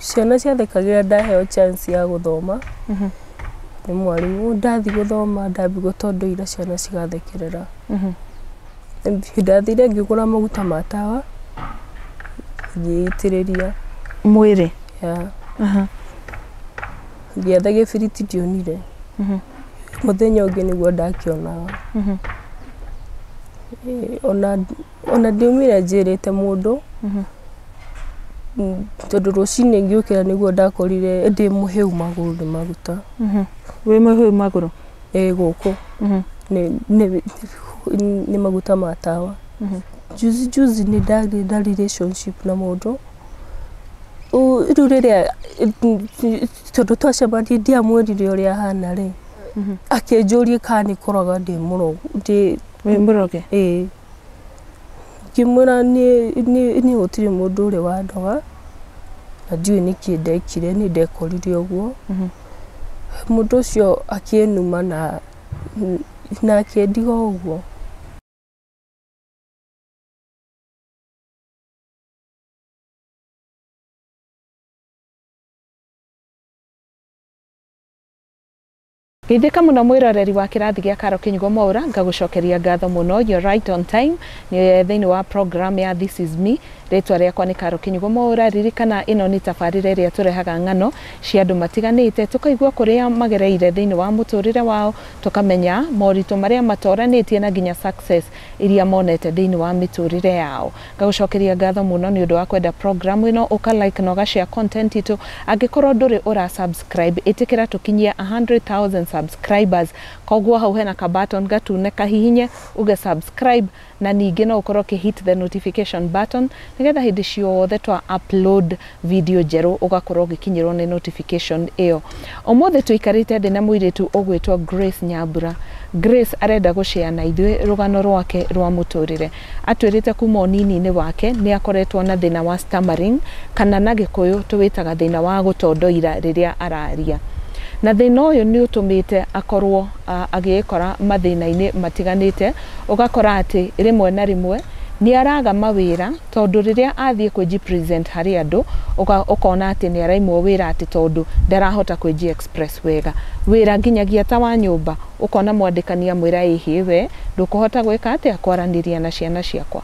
Ciana ciathekagĩra ndaheo chance ya gũthoma nĩ mwarimũ. Ndathiĩ gũthoma ndambigwo to ndoire ciana cigathekerera. Ndathire ngĩgũra maguta ma tawa ngĩitĩrĩria. Mwĩrĩ? Yeah. Ngĩetha gĩbiriti ndionire. Mũthenya ũngĩ nĩguo ndakĩonaga. Ona Ona ndiumire njĩrĩte mũndũ, tondũ rũcinĩ ngĩũkĩra nĩguo ndakorire ndĩ mũhĩu magũrũ nĩ maguta. Wĩ mũhĩu magũrũ? Ĩĩ gũkũ nĩ maguta ma tawa. Juzi juzi nĩ ndagĩire na relationship na mũndũ, rĩu rĩrĩa, tondũ twacemania ndiamwĩrire ũrĩa ahana rĩ, akĩnjũria kana nĩ kũroga ndĩ mũroge. Wĩ mũroge? Ĩĩ. Ngĩmwĩra niĩ gũtirĩ mũndũ ũrĩ wandoga, na ndiũĩ nĩkĩ ndekire, niĩ ndekorire ũguo. Mũndũ ũcio akĩnuma na na akĩndiga ũguo. Geithĩka mũno mwĩroreri wa kĩrathi gĩa Caro Kĩnyugo Mwaũra, ngagũcokeria ngatho mũno, you're right on time, nĩ thĩinĩ wa program ya This is me, rĩtwa rĩakwa nĩ Caro Kĩnyugo Mwaũra, ririkana ĩno nĩ tabarĩra ĩrĩa tũrehaga ng'ano cia andũ matiganĩte, tũkaigua kũrĩa magereire thĩinĩ wa mũtũrĩre wao, tũkamenya moritũ marĩa matoranĩtie na nginya success iria monete thĩinĩ wa mĩtũrĩre yao. Ngagũcokeria ngatho mũno nĩ ũndũ wa kwenda programu ĩno, ũka like na ũga share content itũ. Angĩkorwo ndũrĩ ũra subscribe, ĩtĩkĩra tũkinyie a hundred thousand subscribers. Koguo hau hena ka button gatune, kahihinye uge subscribe, na ningĩ no ũkorwo ũkĩ hit the notification button, nĩgetha hĩndĩ ciothe twa upload video njerũ ũgakorwo ũgĩkinyĩrwo nĩ notification ĩyo. Ũmũthĩ tũikarĩte thĩ na mũirĩtu ũgwĩtwo Grace Nyambura. Grace arenda gũ share na ithuĩ rũgano rwake rwa mũtũrĩre. Atwĩrĩte kuma ũnini-inĩ wake nĩ akoretwo na thĩna wa stammering kana na gĩkũyũ tũwĩtaga thĩna wa gũtondoira rĩrĩa araria. Na thĩna ũyũ nĩ ũtũmĩte akorwo agĩĩkora mathĩna-inĩ matiganĩte, ũgakora atĩ rĩmwe na rĩmwe nĩ araga mawĩra, Tondũ rĩrĩa athiĩ kwĩji present harĩ andũ ũga ũkona atĩ nĩ araimwo wĩra atĩ tondũ ndarahota kwĩji express wega wĩra nginyagia ta wa nyũmba ũkona mwandĩkani amwĩra ĩ hĩ we ndũkũhota gwĩka atĩa kwaranĩria na ciana ciakwa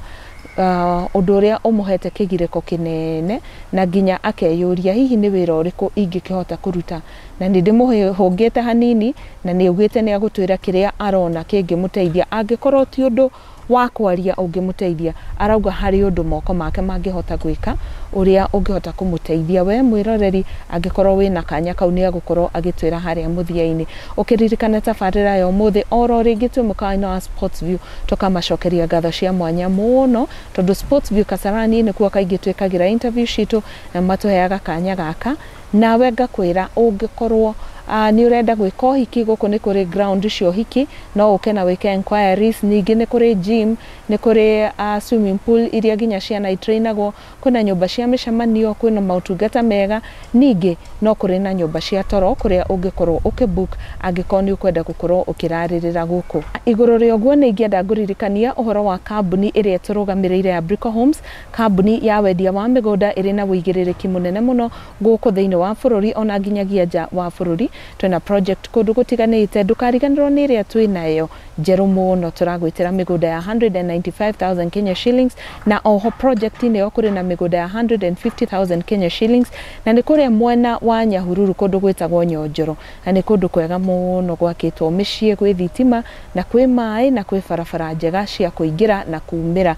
ũndũ ũrĩa ũmũhete kĩgirĩko kĩnene na nginya akeyũria hihi nĩ wĩra ũrĩkũ ingĩkĩhota kũruta na nĩ ndĩmũhũngĩte hanini na nĩ augĩte nĩ agũtwĩra kĩrĩa arona kĩngĩmũteithia angĩkorwo ti ũndũ wa kwaria ũngĩmũteithia. Arauga harĩ ũndũ moko make mangĩhota gwĩka ũrĩa ũngĩhota kũmũteithia. Wee mwĩroreri angĩkorwo wĩna kanya kau nĩagũkorwo agĩtwĩra harĩa mũthia-inĩ. Ũkĩririkana tabarĩra ya ũmũthĩ oro rĩngĩ twĩ mũkawa-inĩ wa Sportsview tũkamacokeria ngatho cia mwanya mũno tondũ Sportsview Kasarani nĩkuo kaingĩ twĩkagĩra interview citũ na matũheaga kanya gaka. Nawe ngakwĩra, ũngĩkorwo nĩ ũrenda gwĩka ũhiki, gũkũ nĩ kũrĩ ground cia ũhiki, no ũke na wĩke enquiries. Ningĩ nĩ kũrĩ gym, nĩ kũrĩ swimming pool iria nginya ciana i train agwo, kwĩna nyũmba cia mĩcemanio, kwĩna motungata mega. Ningĩ no kũrĩ na nyũmba cia toro kũrĩa ũngĩkorwo ũkĩ book angĩkorwo nĩ ũkwenda gũkorwo ũkĩrarĩrĩra gũkũ. Igũrũ rĩa ũguo, nĩ ingĩenda ngũririkanie ũhoro wa kambuni ĩrĩa ĩtũrũgamĩrĩire ya Brico Homes. Kambuni ya wendia wa mĩgũnda ĩrĩ na wũigĩrĩrĩki mũnene mũno gũkũ thĩinĩ wa bũrũri ona nginyagia nja wa bũrũri. Twĩna project kũndũ gũtiganĩte. Ndũkariganĩrwo nĩ ĩrĩa twĩnayo njerũ mũno. Tũragwĩtĩra mĩgũnda ya 195,000 Kenya shillings na oho project inĩ ĩyo kũrĩ na mĩgũnda ya 150,000 Kenya shillings na nĩ kũrĩa mwena wa Nyahururu kũndũ gwĩtagwo Nyonjoro na nĩ kũndũ kwega mũno gwakĩtwo mĩciĩ, gwĩ thitima. Na kwĩ maĩ na kwĩ barabara njega cia kũingĩra na kuumĩra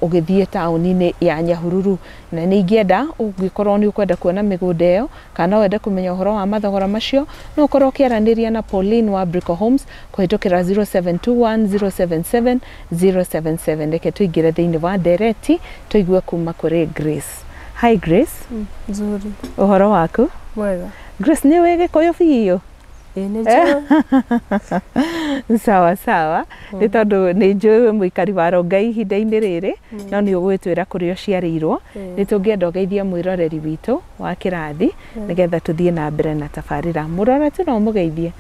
ũgĩthiĩ taũni-inĩ ya Nyahururu. Na nĩ ingĩenda ũngĩkorwo nĩ ũkwenda kuona mĩgũnda ĩyo kana no wende kũmenya ũhoro wa mathogora macio, no ũkorwo ũkĩaranĩria na Pauline wa Brico Homes kũhĩtũkĩra 0721077077. Reke tũingĩre thĩinĩ wa ndereti tũigue kuuma kũrĩ Grace. Hi Grace. Nzuri. Ũhoro waku? Mwega. Grace nĩ ũĩ Gĩkũyũ biũ? Ĩĩ nĩ njũĩ. sawa sawa nĩ tondũ nĩ njũĩ wĩ mũikari wa rongai ihinda-inĩ rĩrĩ no nĩ ũgwĩtwĩra kũrĩa ũciarĩirwo nĩ tũngĩenda ũgeithie mwĩroreri witũ wa kĩrathi nĩgetha tũthiĩ na mbere na tabarĩra mũrora tu no ũmũgeithie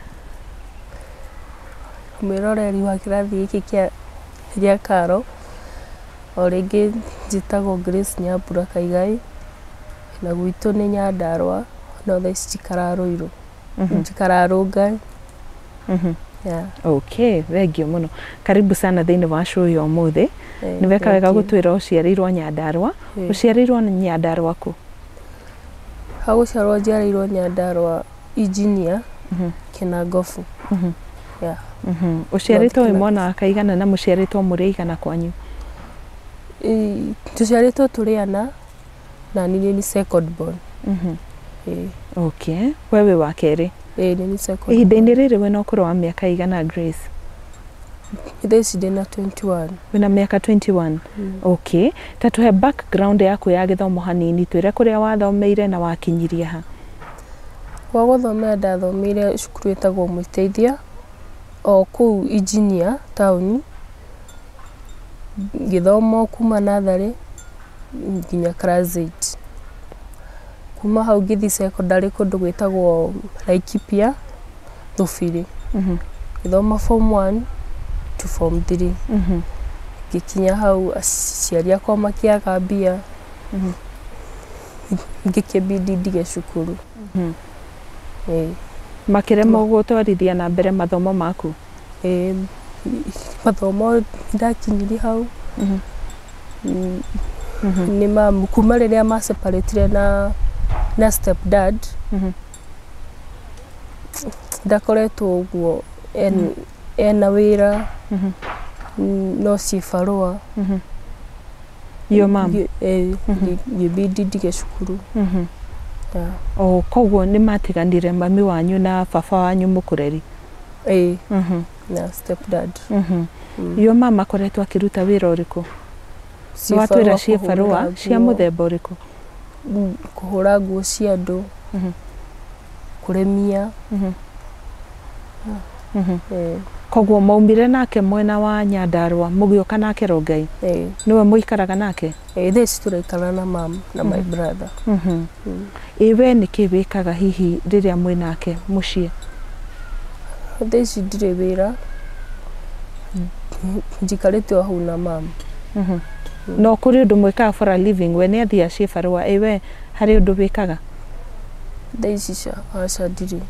mwĩroreri wa kĩrathi gĩkĩ kĩa gĩa karo o rĩngĩ njĩtagwo Grace Nyambura Kaigai na gwitũ nĩ Nyandarũa no thaa ici njikaraga Rũirũ. Mhm. njikararũnga Mhm. yeah. okay thengio mũno karibu sana thĩinĩ wa show ya ũmũthĩ Eh, nĩ weka thank wega you. gũtwĩra ũciarĩirwo nyandarwa Eh. ũciarĩirwo nyandarwa kũ ha gũciarwo njiarĩirwo nyandarwa injinia Mhm. kĩnangobu Mhm. Yeah. Mhm. ũciarĩtwo wĩ Kĩnangobu. mwana wa kaigana na mũciarĩtwo mũrĩ aigana kwanyu Ĩ- tũciarĩtwo tũrĩ ana na ni ni second born Mhm. ĩĩ okay we wĩ wa kerĩ ĩĩ ni ni second ihinda-inĩ rĩrĩ wĩna ũkũrũ wa mĩaka igana grace thaa ici ndĩ na 21 wĩna mĩaka 21 Mm. okay ta tũhe background yaku ya gĩthomo hanini twĩre kũrĩa wathomeire na wakinyirie ha gwa gũthomera ndathomeire cukuru ĩtagwo mũiteithia o kũu injinia taũni ngĩthoma o kuma natharĩ nginya class eight. Kuma hau ngĩthiĩ cekondarĩ kũndũ gwĩtagwo Laikipia Thubiri. Ngĩthoma form one to form three. Ngĩkinya hau aciari akwa makĩaga mbia, ngĩkĩbindi ndige cukuru. Ĩĩ. Makĩremwo gũtwarithia na mbere mathomo maku? Eh, mathomo ndakinirie hau Mhm. mm, Mhm. nĩ mamu kuma rĩrĩa ma separatire na na step dad Mhm. ndakoretwo ũguo en, ena wĩra Mhm. mm, no ciĩ barũa Mhm. Your mom? Ngĩ- eh, Mhm. ngĩ- ngĩbindi ndige cukuru Mhm. yeah. o koguo nĩ matiganire mami wanyu na baba wanyu mũkũreri Ĩĩ. Mhm. Na step dad. Mhm. Mm. Yo mama koretwo akiruta wira uriku? Nĩ watwĩra ciĩ barũa cia mũthemba ũrĩkũ? Mm, kũhũra nguo cia andũ, mhm. kũrĩmia. Mhm. Mhm. Eh. Koguo maumire nake mwena wa Nyandarũa mũgĩũka nake Rongai? Ĩĩ. Nĩwe mũikaraga nake? Ĩĩ thaa ici tũraikara na mam na my mm-hmm. brother mm-hmm. mm. ĩ we nĩ kĩ wĩkaga hihi rĩrĩa mwĩ nake mũciĩ thaa ici ndirĩ wĩra njikarĩte o hau na mam mm-hmm. mm. no kũrĩ ũndũ mwĩkaga for a living we nĩ athiĩ aciĩ barũa ĩ we harĩ ũndũ wĩkaga thaa ici aca ndirĩ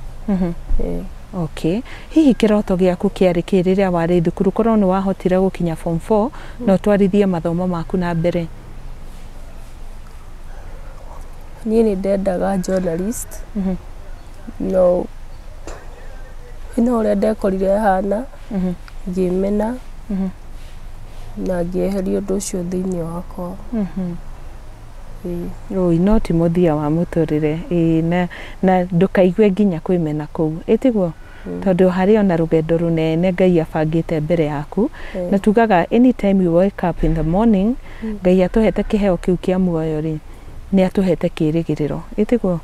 Ok. Hihi kĩroto gĩaku kĩarĩ kĩĩ rĩrĩa warĩ thukuru? Korwo nĩ wahotire gũkinya form four, na ũtwarithie mathomo maku na mbere. Niĩ nĩ ndendaga journalist. No no ũrĩa ndekorire hana, ngĩmena, na ngĩeheria ũndũ ũcio thĩiniĩ wakwa. Ũũi no ti mũthia wa mũtũrĩre. Ĩĩ na na ndũkaigue nginya kwĩmena kũu. Ĩ tiguo? Tondũ harĩ ona rũgendo rũnene Ngai abangĩte mbere yaku. Na tugaga any time you wake up in the morning, Ngai atũhete kĩheo kĩu kĩa muoyo rĩ, nĩ atũhete kĩrĩgĩrĩro. Ĩ tiguo?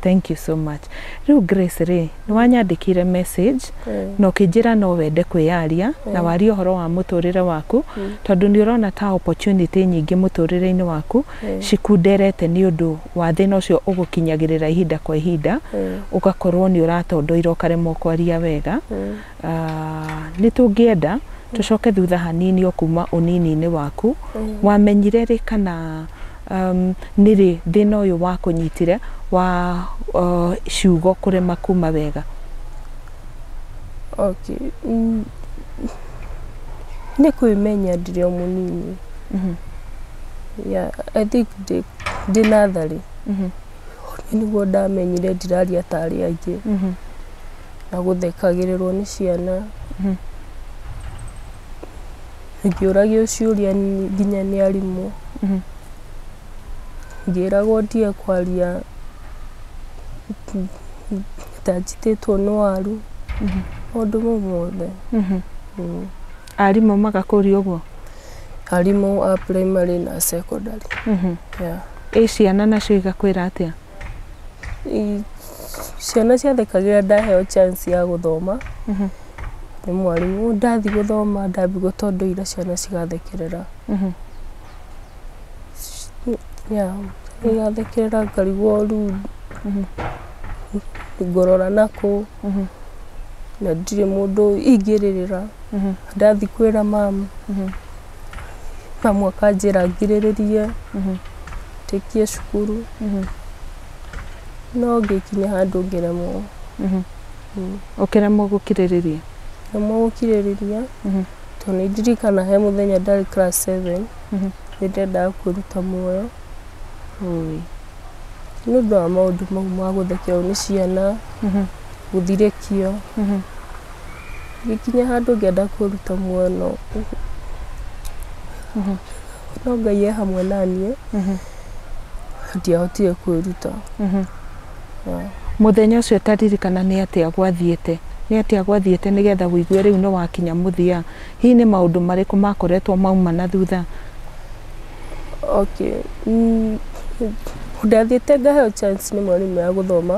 Thank you so much. Rĩu Grace rĩ, Nĩ wanyandĩkĩire message na ũkĩnjĩra no wende kwĩyaria na warie ũhoro wa mũtũrĩre waku tondũ nĩ ũrona ta opportunity nyingĩ mũtũrĩre-inĩ waku cikunderete nĩ ũndũ wa thĩna ũcio ũgũkinyagĩrĩra ihinda kwa ihinda ũgakorwo nĩ ũratondoira ũkaremwo kwaria wega. Nĩ tũngĩenda tũcoke thutha hanini o kuma ũnini-inĩ waku, wamenyire rĩ kana nĩ rĩ thĩna ũyũ wakũnyitire wa ciugo kũrema kuma wega? Nĩ kwĩmenya ndĩrĩ o mũnini, I think ndĩ natharĩ nĩguo ndamenyire ndiraria ta arĩa angĩ. na gũthekagĩrĩrwo nĩ ciana. Ngĩũragio ciũria nginya nĩ arimũ. Ngĩragwo ndige kwaria ta njitĩtwo nĩ waru, maũndũ mau mothe. Arimũ magakũria ũguo? Arimũ a primary na secondary. Ĩ ciana nacio igakwĩra atĩa? Ciana ciathekagĩrĩra ndaheo chance ya gũthoma nĩ mwarimũ. Ndathiĩ gũthoma ndambigwo to ndoire ciana cigathekerera. Yeah igathekerera ngarigwo rĩu ngũrora nakũ na ndirĩ mũndũ ingĩrĩrĩra. Ndathiĩ kwĩra mama. Mami akanjĩra ngirĩrĩrie tũingĩre cukuru no ngĩkinya handũ ngĩremwo ũkĩremwo gũkirĩrĩria ngĩremwo gũkirĩrĩria tondũ nĩ ndirikana he mũthenya ndarĩ class seven nĩ ndendaga kwĩruta muoyo Ũĩ. nĩ ũndũ wa maũndũ mau ma gũthekerwo nĩ ciana gũthirĩkio Ngĩkinya handũ ngĩenda kũruta mwana ũũ, no Ngai e hamwe na niĩ, ndiahotire kwĩruta. Mũthenya ũcio ũtaririkana nĩ atĩa gwathiĩte? Nĩ atĩa gwathiĩte nĩgetha ũigue rĩu nĩ wakinya mũthia? Hihi nĩ maũndũ marĩkũ makoretwo mauma na thutha? Okay, ndathiĩte ngaheo chance nĩ mwarimũ ya gũthoma.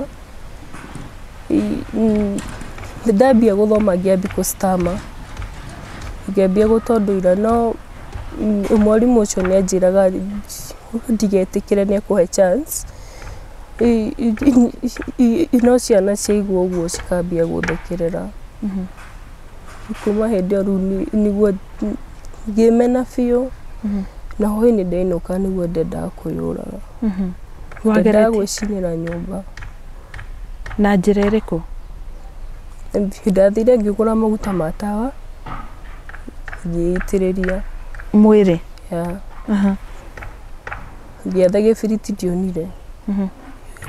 Nĩndambia gũthoma ngĩambia kũ stammer, ngĩambia gũtondora no mwarimũ ũcio nĩ anjĩraga ndigetĩkĩre nĩ ekũhe chance. No ciana ciaigua ũguo cikambia gũthekerera. Kuma hĩndĩ ĩyo rĩu nĩguo ngĩmena biũ, na hwainĩ ndainũka nĩguo ndendaga kwĩyũraga. Ndendaga gwĩcinĩra nyũmba. Na njĩra ĩrĩkũ? Ndathire ngĩgũra maguta ma tawa, ngĩitĩrĩria. Mwĩrĩ? Yeah. Ngĩetha gĩbiriti ndionire.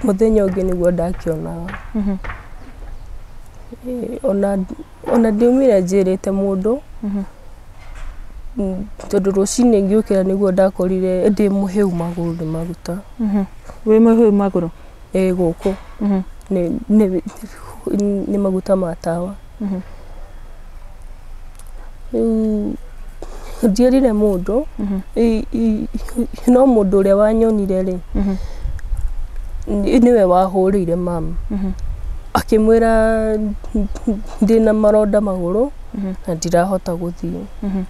Mũthenya ũngĩ nĩguo ndakĩonaga. Ona ndiaumire njĩrĩte mũndũ, tondũ rũcinĩ ngĩũkĩra nĩguo ndakorire ndĩ mũhĩu magũrũ nĩ maguta. Wĩ mũhĩu magũrũ? ĩ gũkũ Mhm. nĩ, nĩ, nĩ maguta ma tawa Mhm. rĩu ndierire mũndũ Mhm. i- i- i- no mũndũ ũrĩa wanyonire rĩ Mhm. nĩ- nĩwe wahũrĩire mamu Mhm. akĩmwĩra ndĩna maronda magũrũ Mhm. na ndirahota gũthiĩ Mhm.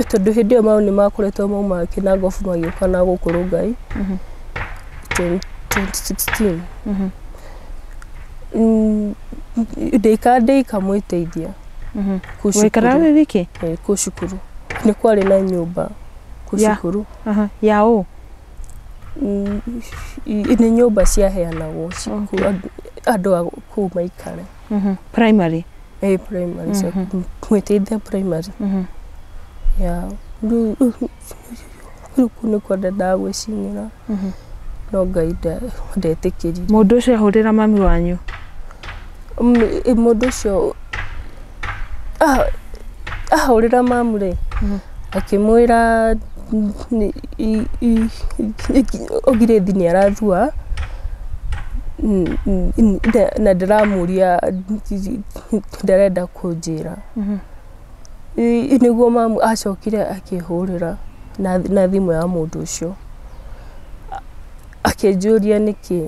tondũ hĩndĩ ĩyo mau nĩ makoretwo mauma kĩnangobu magĩũka na gũkũ Rongai 2016. Mm, Ndĩikara ndĩikamwĩteithia kũ Waikara cukuru- wĩ wiki? eh, kũ cukuru nĩ kwarĩ na nyũmba kũ Ya. cukuru Aha. Ya ũ? Mm, i- nĩ nyũmba ciaheanagwo ci- Okay. andũ a kũu maikare Mhm. primary eh primary so mwĩteithia primary Mhm. ya rĩu rĩu kũu nĩkuo ndendaga gwĩcinĩra Mhm. no ngai nda- ndetĩkĩrire mũndũ ũcio ahũrĩra mami wanyu Mm, ĩ, mũndũ ũcio ah- ahũrĩra mamu rĩ Mhm. akĩmwĩra Ngirĩthi nĩ arathua na ndĩramũria ndarenda kũnjĩra. Nĩguo mamu acokire akĩhũrĩra na thimũ ya mũndũ ũcio akĩnjũria nĩkĩ.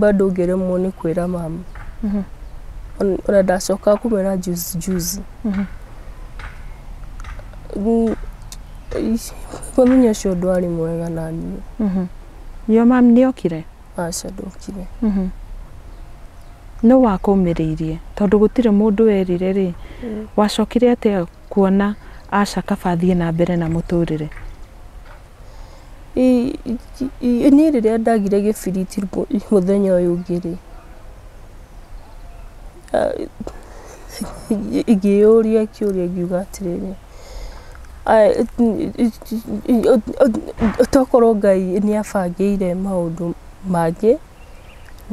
bado ũngĩremwo nĩ kwĩra mama ona ndacokaga kũmwĩra juzi juzi Mm, ish, mũthenya ũcio ndwarĩ mwega na niĩ yo mam nĩ okire aca ndokire nĩ wakũmĩrĩirie tondũ gũtirĩ mũndũ werire rĩ wacokire atĩa kuona aca kaba athiĩ na mbere na mũtũrĩre Niĩ rĩrĩa ndagire gĩbiriti mũthenya ũyũ ũngĩ rĩ, ngĩyũria kĩũria ngiuga atĩrĩrĩ, tokorwo Ngai nĩ abangĩire maũndũ mangĩ,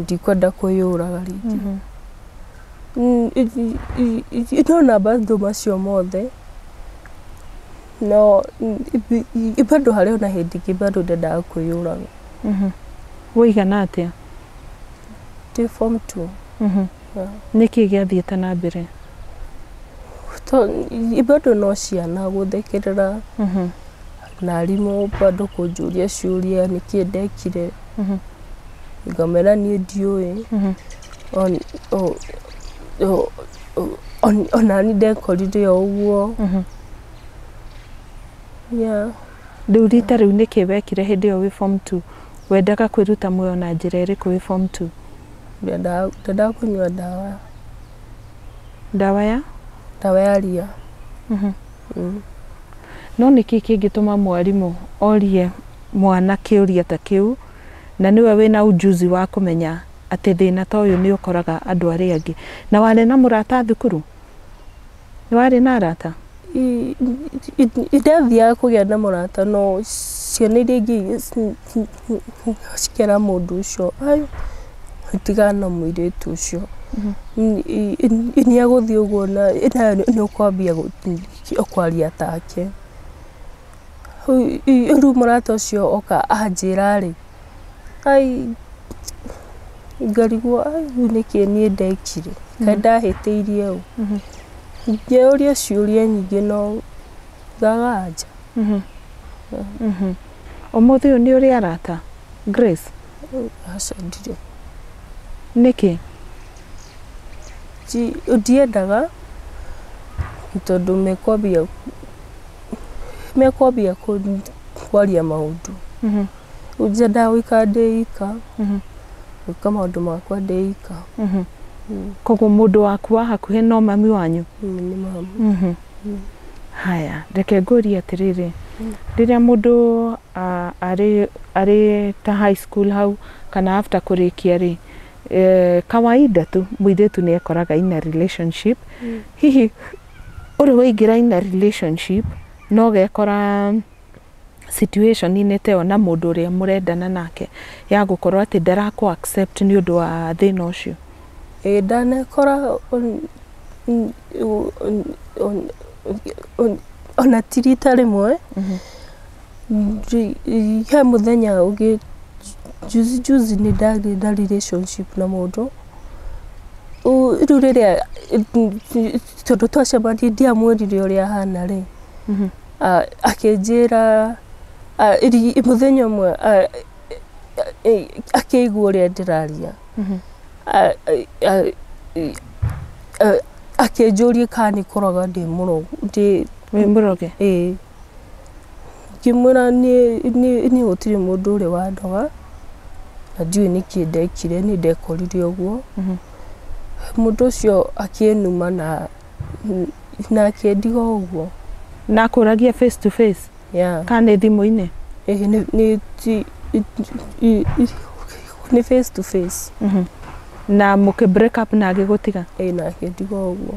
ndikwenda kwĩyũraga rĩngĩ. Ndona maũndũ macio mothe... no bado harĩ ona hĩndĩ ingĩ bado ndendaga kwĩyũraga Mhm. Waigana atĩa? ndĩ form two Mhm. Yeah. Nĩ kĩĩ gĩathiĩte na mbere? To- i- bado no ciana gũthekerera Mhm. na arimũ bado kũnjũria ciũria nĩkĩ ndekire Mhm. ngamera niĩ ndiũĩ Mhm. On- o- o- o- on- ona niĩ ndekorire o ũguo Mhm. Yeah. Rĩu rita rĩu nĩkĩ wekire hĩndĩ ĩyo wĩ form 2? Wendaga kwĩruta muoyo na njĩra ĩrĩkũ wĩ form 2? Ndendaga ndendaga kũnyua ndawa Ndawa ya? ndawa ya ria Mhm. Mm. No nĩkĩ kĩngĩtũma mwarimũ orie mwana kĩũria ta kĩu na nĩwe wĩna ujuzi wa kũmenya atĩ thĩna ta ũyũ nĩ ũkoraga andũ arĩa angĩ? Na warĩ na mũrata thukuru? Nĩ warĩ na arata? Ndathiaga kũgĩa na mũrata no ciana iria ingĩ cikĩra mũndũ ũcio tigana na mũirĩtu ũcio, nĩ egũthiĩ ũguo na nĩ ũkwambia kwaria take. rĩu mũrata ũcio oka anjĩra-rĩ, ai ngarigwo ai rĩu nĩkĩ niĩ ndekire, kaĩ ndahĩtĩirie ũũ. Ngeyũria ciũria nyingĩ no ngaga anja. Ũmũthĩ ũyũ nĩ ũrĩ arata Grace? Aca ndirĩ. Nĩkĩ? Ndiendaga tondũ mekwambia mekwambia kũ- kwaria maũndũ Mhm. rĩu njendaga gũikara ndĩ ika Mhm. gwĩka maũndũ makwa ndĩ ika Mhm. Mm. koguo mũndũ waku wa hakuhĩ no mami wanyu Mm, nĩ mama Mhm. Mm. haya reke ngũrie atĩrĩrĩ Mm. rĩrĩa mũndũ ah, arĩ arĩ ta high school hau kana after kũrĩkia rĩ eh, kawaida tu mũirĩtu nĩ ekoraga ina relationship Mm. hihi Ũ rĩ waingĩra in a relationship na ũgekora situation inĩ ta ĩyo na mũndũ ũrĩa mũrendana nake ya gũkorwo atĩ ndarakũ accept nĩ ũndũ wa thĩna ũcio? Ĩĩ ndanekora ona ti rita rĩmwe, he mũthenya ũngĩ, juzi juzi nĩ ndagĩire na relationship na mũndũ. rĩu rĩrĩa tondũ twacemanirie ndiamwĩrire ũrĩa ahana rĩ ah, akĩnjĩra ah, iri- mũthenya ũmwe ah, eh, akĩigua ũrĩa ndĩraria Ah, eh, ah, eh, ah, akĩnjũria kana nĩ kũroga ndĩ mũrogu ndĩ wĩ mũroge ĩĩ Ngĩmwĩra niĩ niĩ niĩ gũtirĩ mũndũ ũrĩ wandoga, na ndiũĩ nĩkĩ ndekire, niĩ ndekorire ũguo. Mũndũ ũcio akĩnuma na na akĩndiga o ũguo. Na akũragia face to face Yeah. kana nĩ thimũ-inĩ? Ĩ nĩ nĩ ti nĩ face to face. Na mũkĩ break up na agĩgũtiga? Ĩ na akĩndiga o ũguo.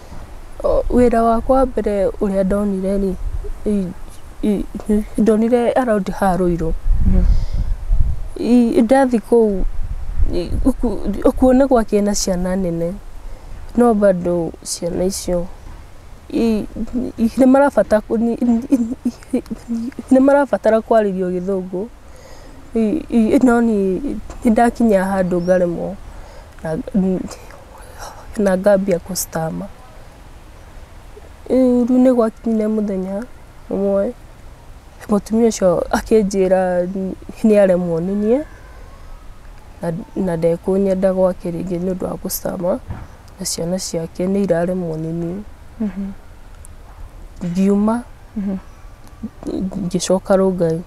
Wĩra wakwa wa mbere ũrĩa ndonire rĩ, ndonire araũndi ha rũirũ. Ndathi kũu kuo nĩ gwakĩrĩ na ciana nene, no bado ciana icio nĩ marabatara kwarĩrio gĩthũngũ, no niĩ nĩ ndakinya handũ ngaremwo. na ngambia kũ stammer. Rĩu nĩ gwakinyire mũthenya ũmwe mũtumia ũcio akĩnjĩra nĩ aremwo nĩ niĩ na ndekũnyenda gwake rĩngĩ nĩ ũndũ wa gũ stammer na ciana ciake nĩ iraremwo nĩ niĩ. Ngiuma ngĩcoka Rongai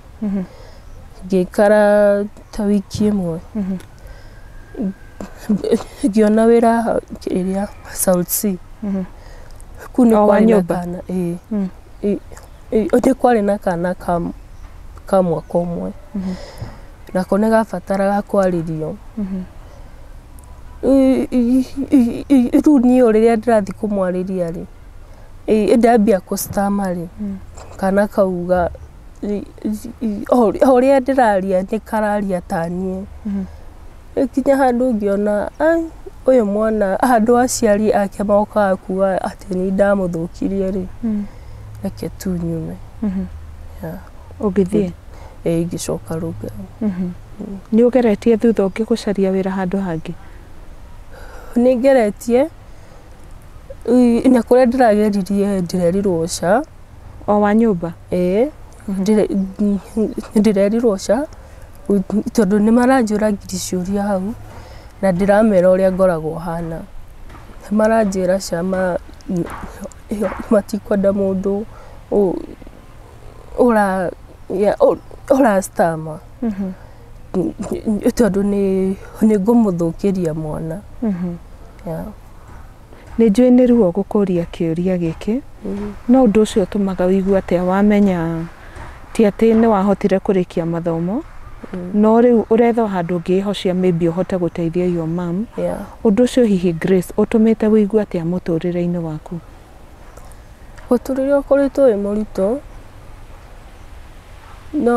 ngĩikara ta wiki ĩmwe. ngĩona wĩra ĩrĩa South Sea kuu nĩ O wa kwarĩ na nyũmba? kana ĩĩ Ĩ- ĩ- nĩ kwarĩ na kana ka ka mwaka ũmwe nako nĩ gabataraga kwarĩrio Ĩ- ĩ- ĩ- ĩ- rĩu niĩ o rĩrĩa ndĩrathiĩ kũmwarĩria rĩ ĩ- ndambia kũ stammer rĩ kana kau ga- o ũrĩa ndĩraria nĩ kararia ta niĩ. Ngĩkinya handũ ngĩona ai ũyũ mwana handũ aciari ake mokaga kuga atĩ nĩ niĩ ndamũthũkirie rĩ, reke tu nyume. Ũgĩthiĩ? Ĩĩ ngĩcoka Rongai. Nĩ ũgeretie thutha ũngĩ gũcaria wĩra handũ hangĩ? Nĩ ngeretie, na kũrĩa ndĩrageririe rĩ, ndĩrerirwo ca. O wa nyũmba? Ĩĩ, ndĩrerirwo ca, tondũ nĩ maranjũra ngiri ciũria hau, na ndĩramera ũrĩa ngoragwo hana. Nĩ maranjĩra ca matikwenda mũndũ ũra stammer. Tondũ nĩ ngũmũthũkĩria mwana. Nĩ njũĩ nĩ ruo gũkũria kĩũria gĩkĩ, no ũndũ ũcio ũtũmaga ũigue atĩa wamenya ti atĩ nĩ wahotire kũrĩkia mathomo, no rĩu ũretha o handũ ũngĩĩhocia maybe ũhote gũteithia your mum. Yeah. Ũndũ ũcio hihi Grace ũtũmĩte ũigue atĩa mũtũrĩre-inĩ waku? Mũtũrĩre ũkoretwo wĩ mũritũ, no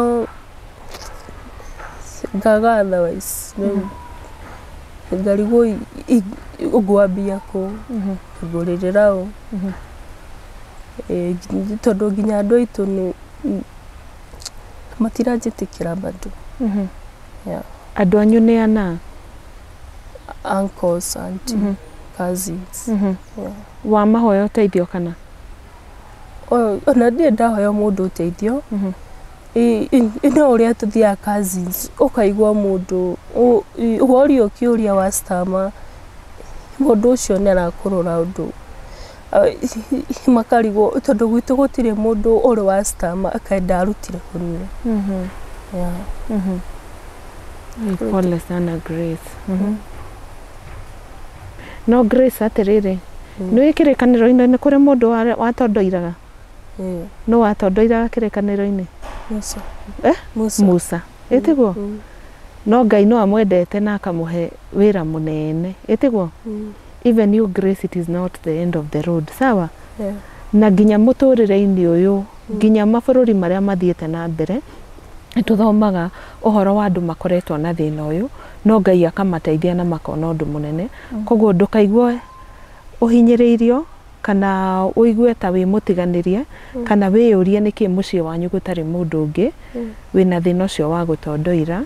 ngaga otherwise rĩu ngarigwo ngwambia kũ, ngũrĩrĩra ũ, tondũ nginya andũ aitũ matiranjĩtĩkĩra bado. Andũ anyu nĩ ana? uncles, auntie, mm -hmm. cousins. Mm -hmm. yeah. wa mahoya ũteithio kana ona ndirĩ ndahoya mũndũ ũteithio mm -hmm. no ũrĩa tũthiaga cousins ũkaigua mũndũ worio kĩũria wa stama mũndũ ũcio nĩ arakũrora ũndũ makarigwo tondũ gwitũ gũtirĩ mũndũ ũrĩ wa citama akenda arutire kũrĩa Mhm, Yeah. mhm. Ni Pole sana Grace. Mhm. No Grace atĩrĩrĩ, nĩ ũĩ kĩrĩkanĩro-inĩ nĩ kũrĩ mũndũ wa- watondoiraga? Eh, Nũ watondoiraga kĩrĩkanĩro-inĩ? Musa. Eh? Musa. Musa. Ĩtiguo? Mm, No Ngai no amwendete na akamũhe wĩra mũnene. Ĩtiguo? mm. even you grace it is not the end of the road sawa Yeah. na nginya mũtũrĩre-inĩ ũyũ nginya mabũrũri marĩa mathiĩte na mbere nĩ tũthomaga ũhoro wa andũ makoretwo na thĩna ũyũ no ngai akamateithia na makona ũndũ mũnene koguo ndũkaigwe ũhinyĩrĩirio Kana ũigue ta wĩ mũtiganĩrie, kana wĩyũrie nĩkĩĩ mũciĩ wanyu gũtarĩ mũndũ ũngĩ wĩna thĩna ũcio wa gũtondoira,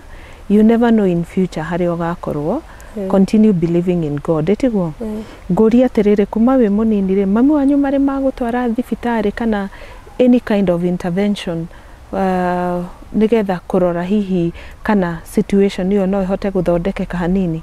you never know in future harĩa ũgakorwo, continue believing in God. Tiguo? Ngũrie atĩrĩrĩ, kuma wĩ mũnini rĩ, mami wanyu marĩ magũtwara thibitarĩ kana any kind of intervention nĩgetha kũrora hihi kana situation ĩyo no ĩhote gũthondekeka hanini?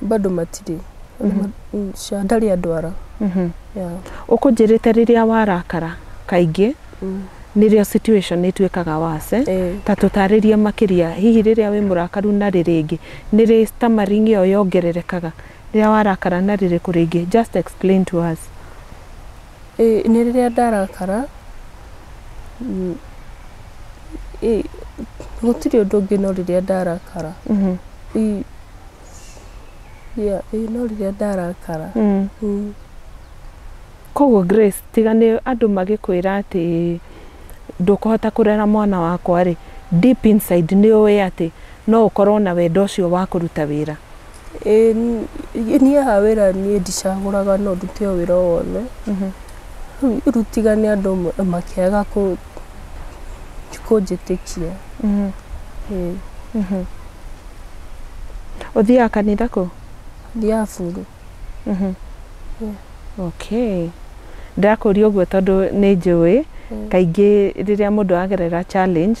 bado matirĩ Sha ndarĩ andwara yeah. ũkũnjĩrĩte rĩrĩa warakara kaingĩ nĩrĩo situation ĩtuĩkaga wase Eh. ta tũtarĩrie makĩria hihi rĩrĩa wĩ mũrakaru na rĩrĩ ĩngĩ nĩrĩ stammering ĩyo yongererekaga rĩrĩa warakara na rĩrĩkũ rĩngĩ just explain to us Ĩĩ nĩ rĩrĩa ndarakara, gũtirĩ ũndũ ũngĩ no rĩrĩa ndarakara. Ĩĩ no rĩrĩa ndarakara. Kogwo Grace tiga nĩ andũ magĩkwĩra atĩ ndũkũhota kũrera mwana wakwa rĩ, deep inside nĩ ũĩ atĩ no ũkorwo na wendo ũcio wa kũruta wĩra. Ĩĩ niĩ haha wĩra niĩ ndicagũraga no ndute o wĩra o wothe. Rĩu tiga nĩ andũ amwe makĩaga kũ- kũnjĩtĩkia. Ĩĩ. Ũthiaga kanitha kũ? Thiaga buru. Okay. Ndĩrakũria ũguo tondũ nĩ njũĩ kaingĩ rĩrĩa mũndũ aragerera challenge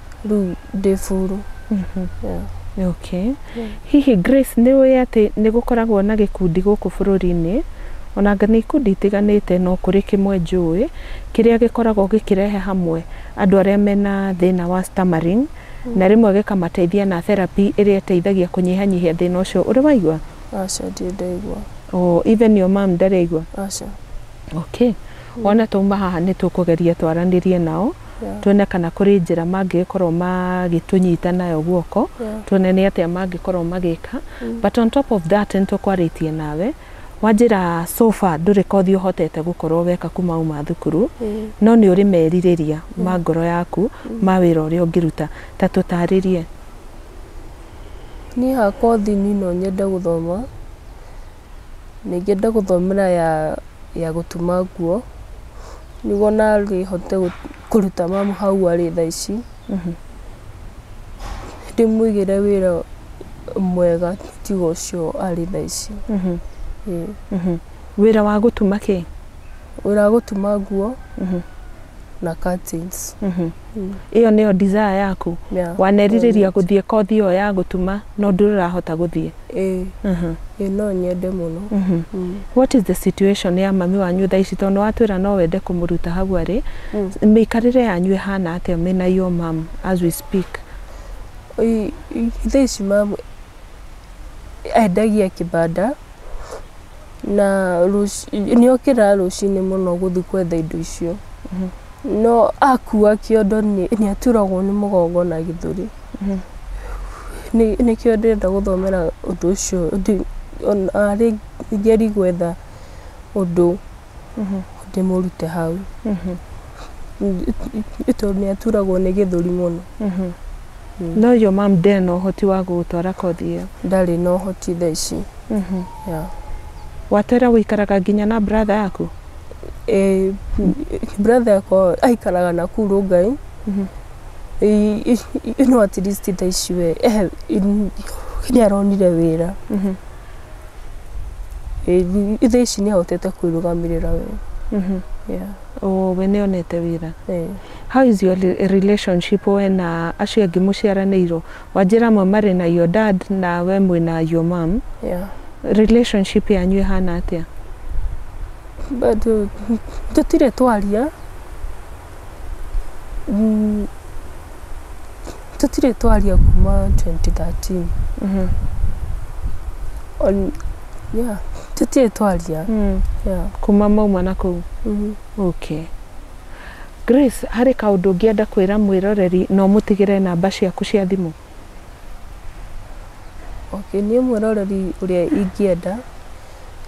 rĩu ndĩ buru mhm. yeah. Okay. Yeah. Hihi Grace nĩ ũĩ atĩ nĩ gũkoragwo na gĩkundi gũkũ bũrũri-inĩ onanga nĩ ikundi itiganĩte no kũrĩ kĩmwe njũĩ kĩrĩa gĩkoragwo gĩkĩrehe hamwe andũ arĩa mena thĩna wa stammering mm. na rĩmwe gĩkamateithia na therapy ĩrĩa ĩteithagia kũnyihanyihia thĩna ũcio ũrĩ waigua aca ndirĩ ndaigua oh, even your mom ndarĩ aigua aca okay. Mm. Ona tuma haha nĩ tũkũgeria twaranĩrie nao Yeah. tuone kana kũrĩ njĩra mangĩgĩkorwo magĩtũnyita nayo guoko Yeah. tuone nĩ atĩa mangĩkorwo magĩka but on top of that nĩtũkwarĩtie nawe wanjĩra so far ndũrĩ kothi ũhotete gũkorwo weka kuma uma thukuru Mm. no nĩ ũrĩ merirĩria ma ngoro yaku ma wĩra ũrĩa ũngĩruta ta tũtarĩrie niĩ ha kothi nino nyende gũthoma na ingĩenda gũthomera ya ya gũtuma nguo, nĩguo narĩ hote kũruta mamu hau arĩ thaa ici, ndĩmũigĩre wĩra mwega tiga ũcio arĩ thaa ici. Wĩra wa gũtuma kĩ? ũragũtuma nguo na curtains. ĩyo nĩyo desire yaku Yeah, wanerirĩria ĩyo nĩ- gũthiĩ kothi ĩyo ya gũtuma no ndũrahota gũthiĩ Ĩĩ, Mhm. ĩĩ no nyende mũno Mhm. Mm. what is the situation ya mami wanyu thaa ici tondũ watwĩra no wende kũmũruta hau arĩ Mm. mĩikarĩre yanyu ĩhana atĩa mena yo mam as we speak Oi, i- thaa ici mamu endagia kĩbanda Na nĩ okĩraga rũcinĩ mũno gũthiĩ gwetha indo icio. No akua kĩondo nĩ aturagwo nĩ mũgongo na gĩthũri. Nĩkĩo ndĩrenda gũthomera ũndũ ũcio arĩ ngerie gwetha ũndũ ndĩmũrute hau. Tondũ nĩ aturagwo nĩ gĩthũri mũno. Mm. No your mom ndarĩ na ũhoti wa gũgũtwara kothi ĩyo? Ndarĩ na ũhoti thaa ici. Mm -hmm. yeah. Watera gũikaraga nginya na brother yaku? Eh, brother yakwa aikaraga na kuu Rongai. Mm -hmm. E, no at least thaa ici we eh, nĩ aronire wĩra. Mm -hmm. E, thaa ici nĩ ahotete kwĩrũgamĩrĩra we. Mm -hmm. yeah. Oh, we nĩ onete wĩra? Eh. How is your relationship we na acio angĩ mũciaranĩirwo? Wanjĩra amwe marĩ na your dad na we mwĩna your mom. Yeah. Relationship yanyu ĩhana atĩa? Bado tũtirĩ twaria. Mm, tũtirĩ twaria kuma 2013. Mhm. On, yeah, tũtirĩ twaria. Mm. Yeah. Kuma mauma na kũu. Mhm. Okay. Grace, harĩ kaũndũ ngĩenda kwĩra mwĩroreri no ũmũtigĩre namba ciaku cia thimũ? Okay, niĩ mwĩroreri ũrĩa ingĩenda,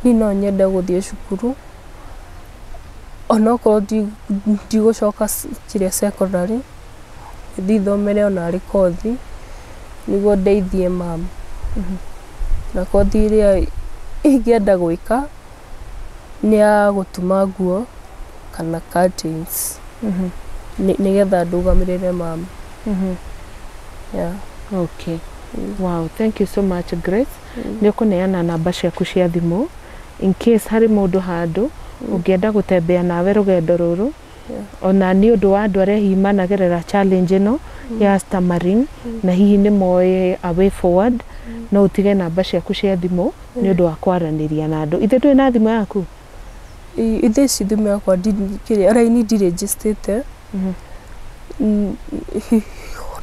niĩ no nyende gũthiĩ cukuru, onokorwo ndigũcoka kĩrĩa cekondarĩ, thiĩ thomere onarĩ kothi, nĩguo ndeithie mama, na kothi ĩrĩa ingĩenda gwĩka. nĩ ya gũtuma nguo kana curtains Mhm, nĩ nĩgetha ndũgamĩrĩre mama mhm. yeah. Okay. Wow, thank you so much Grace. Nĩ ũkũneana namba ciaku cia thimũ in case harĩ mũndũ handũ ũngĩenda gũtembea nawe rũgendo rũrũ Ona nĩ ũndũ wa andũ arĩa hihi managerera challenge ĩno ya stammering na hihi nĩ moĩ a way forward, no ũtige namba ciaku cia thimũ nĩ ũndũ wa kwaranĩria na andũ. Ithe ndũrĩ na thimũ yaku? Ĩ- ithe ici thimũ yakwa ndi- kĩrĩa raini ndirĩnjĩcitĩte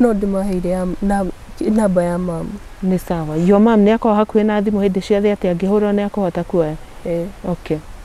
no ndĩmaheire ya na- namba ya mamu Nĩ sawa. Your mom nĩ akoragwo hakuhĩ na thimũ hĩndĩ ciothe atĩ angĩhũra nĩ akũhota kuoya? Ĩĩ. Okay.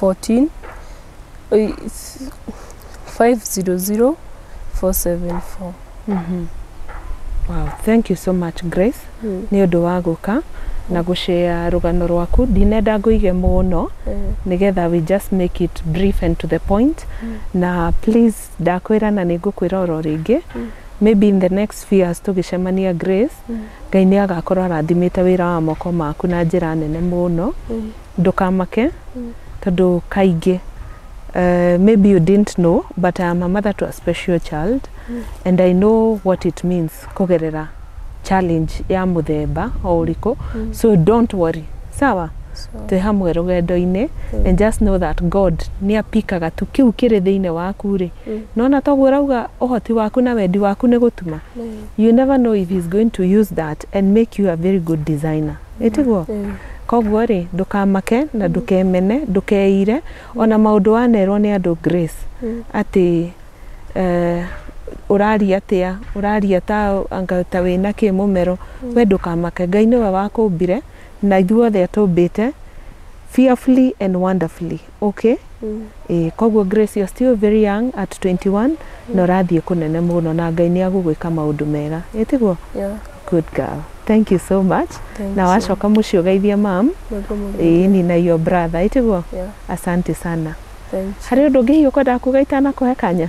14 oi- s- 500 474 Wow, thank you so much Grace Mm. nĩ ũndũ wa gũka na gũshare rũgano rwaku ndinenda ngũige mũno Mm. nigetha we just make it brief and to the point na please ndakwĩra na nĩngũkwĩra oro rĩngĩ maybe in the next few years tũgĩcemania Grace ngai nĩ agakorwo arathimĩte wĩra wa moko maku na njĩra nene mũno Ndũkamake tondũ kaingĩ uh, maybe you didn't know but I am a mother to a special child and I know what it means kũgerera challenge ya mũthemba o ũrĩkũ so don't worry sawa twĩ hamwe rũgendo-inĩ and just know that God nĩ apikaga tu kĩu kĩrĩ thĩinĩ waku rĩ nona toguo ũrauga ũhoti waku na wendi waku nĩ gũtuma you never know if he's going to use that and make you a very good designer Ĩ tiguo? Kwoguo-rĩ, ndũkamake na ndũkemene, ndũkeire ona maũndũ wanerwo nĩ andũ Grace atĩ eh, ũraria atĩa, ũraria ta anga ta wĩna kĩ mũmero. We ndũkamake. Ngai nĩwe wakũmbire na ithuothe atũmbĩte fearfully and wonderfully. Okay. Ĩĩ, koguo Grace you're still very young at 21 na ũrathiĩ kũnene mũno na Ngai nĩ agũgwĩka maũndũ mega. Ĩ tiguo? Yeah. Good girl. Thank you so much. Thank na you. wacoka mũciĩ ũgeithie mam. Nĩguo mũgeithie. Ĩĩ ni na your brother. Ĩ tiguo? Yeah. Asante sana. Thank you. Harĩ ũndũ ũngĩ hihi ũkwendaga kuga itanakũhe kanya?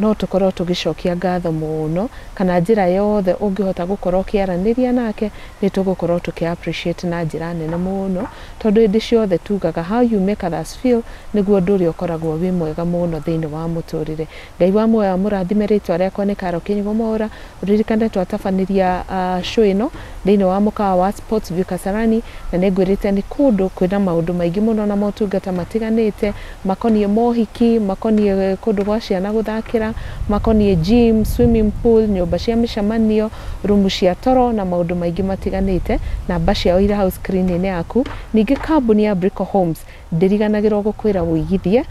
no tũkorwo tũgĩcokia ngatho mũno kana njĩra yothe ũngĩhota gũkorwo ũkĩaranĩria nake nĩ tũgũkorwo tũkĩ appreciate na njĩra nene mũno tondũ hĩndĩ ciothe tugaga how you make others feel nĩguo ũndũ ũrĩa ũkoragwo wĩ mwega mũno thĩinĩ wa mũtũrĩre. Ngai wa muoyo amũrathime rĩtwa rĩakwa nĩ Carol Kĩnyua Mwaũra Ririkana twatabanĩria show ĩno thĩinĩ wa mũkawa wa Sports View Kasarani, na nĩ ngwĩrĩte nĩ kũndũ kwĩna maũndũ maingĩ mũno na motungata matiganĩte makoniĩ mohiki, makoniĩ kũndũ gwa ciana gũthakĩra, makoniĩ gym, swimming pool, nyũmba cia mĩcemanio, rumu cia toro na maũndũ maingĩ matiganĩte. Namba ciao irĩ hau screen -inĩ yaku. Ningĩ kambuni ya Brico Homes Ndiriganagĩrwo gũkwĩra ũigithie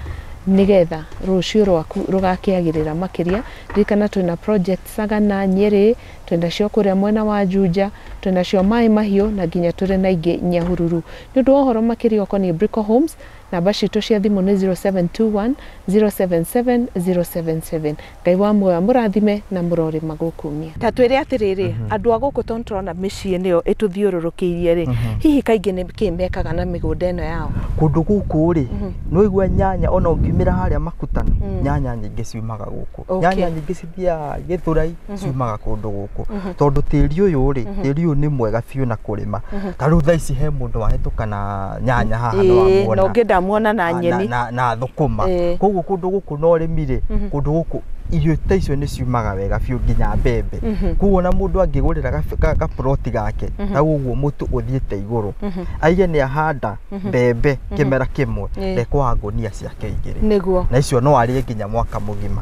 nĩgetha rũciũ rwaku rũgakĩagĩrĩra makĩria. Ririkana twĩna project Sagana, Nyĩrĩ, twĩna cio kũrĩa mwena wa Juja, twĩna cio Maĩ Mahiũ na nginya tũrĩ na ingĩ Nyahururu. Nĩ ũndũ wa ũhoro makĩria ũkoniĩ Brico Homes, namba citũ cia thimũ nĩ 0721 077 077. Ngai wa muoyo amũrathime na mũrore magũkumia. Ta twĩre atĩrĩrĩ, andũ a gũkũ tondũ nĩ tũrona mĩciĩ nĩyo ĩtũthiũrũrũkĩirie-rĩ, hihi kaingĩ nĩ kĩĩ mekaga na mĩgũnda ĩno yao? Kũndũ gũkũ-rĩ, nĩ waigua nyanya o na ũngiumĩra harĩa Makutano, nyanya nyingĩ ciumaga gũkũ. Okay. Nyanya nyingĩ cithiaga Gĩthũrai, ciumaga kũndũ gũkũ. Tondũ tĩri ũyũ-rĩ, tĩri ũyũ nĩ mwega biũ na kũrĩma. Ta rĩu thaa ici he mũndũ wahĩtũka na nyanya haha nĩ Ĩĩ, na wamwona, ũngĩ ndamuona na nyeni. na thũkũma. Ĩĩ. Kũguo kũndũ gũkũ. gũkorwo na ũrĩmi rĩ mhm. kũndũ gũkũ irio ta icio nĩ ciumaga wega biũ nginya mbembe mhm. koguo na mũndũ angĩgũrĩra gaburoti gake mhm. hau ũguo mũtu ũthiĩte igũrũ aige nĩ ahanda mbembe kĩmera kĩmwe ndekwaga ngũnia ciake igĩrĩ na icio no arĩe nginya mwaka mũgima